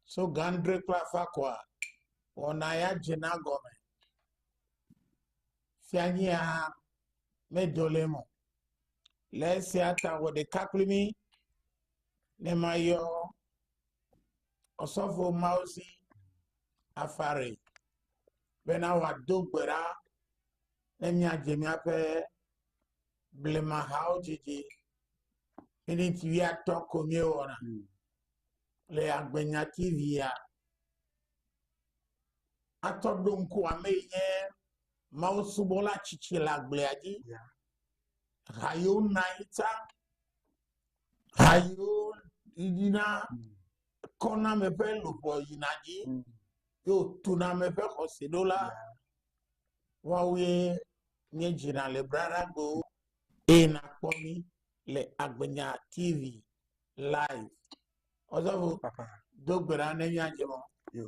tso ga adre kple afã koa, wɔna ya dzena gɔme. Fianyia medo le eme o. Le esia ta wɔ ɖeka kple mí ne mayɔ ɔsɔfo mawo si afare bena wòado gbe ɖa ne míadze míaƒe. blemahawo dzidzi minit wuiatɔ̃ ko míewɔna hmm. le agbenya tvia atɔ ɖo ŋku ame yi nye mawusubɔla tsitsi le agblea dzi ha yiwo na yi ta ha yiwo yina hmm. kɔname ƒe luʋɔ yina dzi hmm. yo tuname ƒe xɔse ɖo la yeah. woawoe míedzina le Bradagbewo eye nàkpɔ mí le Agbenya TV live. Ɔzɔvo, do gbe ɖa ne míadze mɔ. Yo.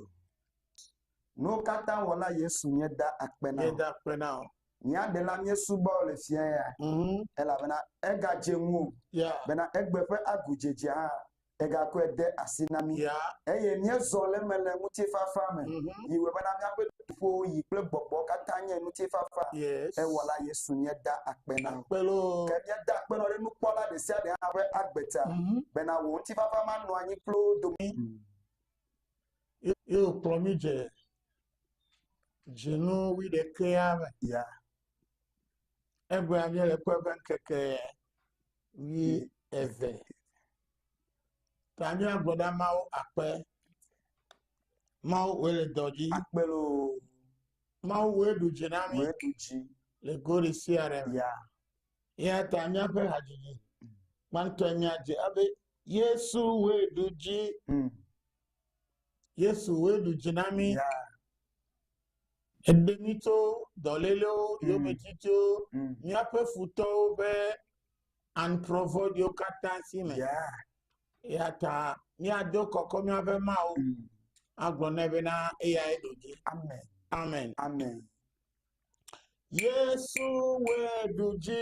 Nuwo katã wɔla Yesu míeda akpe na Míeda akpe na wò. Mía Ɖela míesubɔ le fiẽ ya, mm -hmm. elabena egadze ŋuwò yeah. bena egbe ƒe agudzedzea hã egakɔe de asi na mí, yeah. eye míezɔ le eme le ŋutifafa me. Mm -hmm. Yi wòbena míaƒe ƒowo yi kple gbɔgbɔ katã nye ŋutifafa. Yes. Ewɔla Yesu míeda akpe na. Ke míeda akpe na ɖe nukpɔla ɖe sia ɖe hã ƒe agbe ta, mm -hmm. bena wò ŋutifafa manɔ anyi kple wo dome. Mm. Ye wòkplɔ mí dze dzinu wi ɖekea me. Yeah. Egbea míele kpe ƒe ŋkeke ʋi eve. Tanya gbɔɖa mawo akpe. Mawo woe le dɔ dzi. Akpe loo. Mawo woe ɖu dzi na mi. Woe ɖu dzi. Le gori sia ɖe me. Ya. Ya ta míaƒe hadzidzi. Gbãtɔ nya dze abe Yesu woe ɖu dzi. Mm. Yesu woe ɖu dzi na mi. Ya. Eɖe mí tso dɔlélewo mm. yometito, mm. míaƒe futɔwo ƒe antrɔ vɔ̃ɖiwo katã si me. Eya ta míado kɔkɔ míaƒe Mawu mm. agblɔ nɛ bena eyae ɖo dzi. Amen. Amen. Amen. Yesu wɛ ɖu dzi.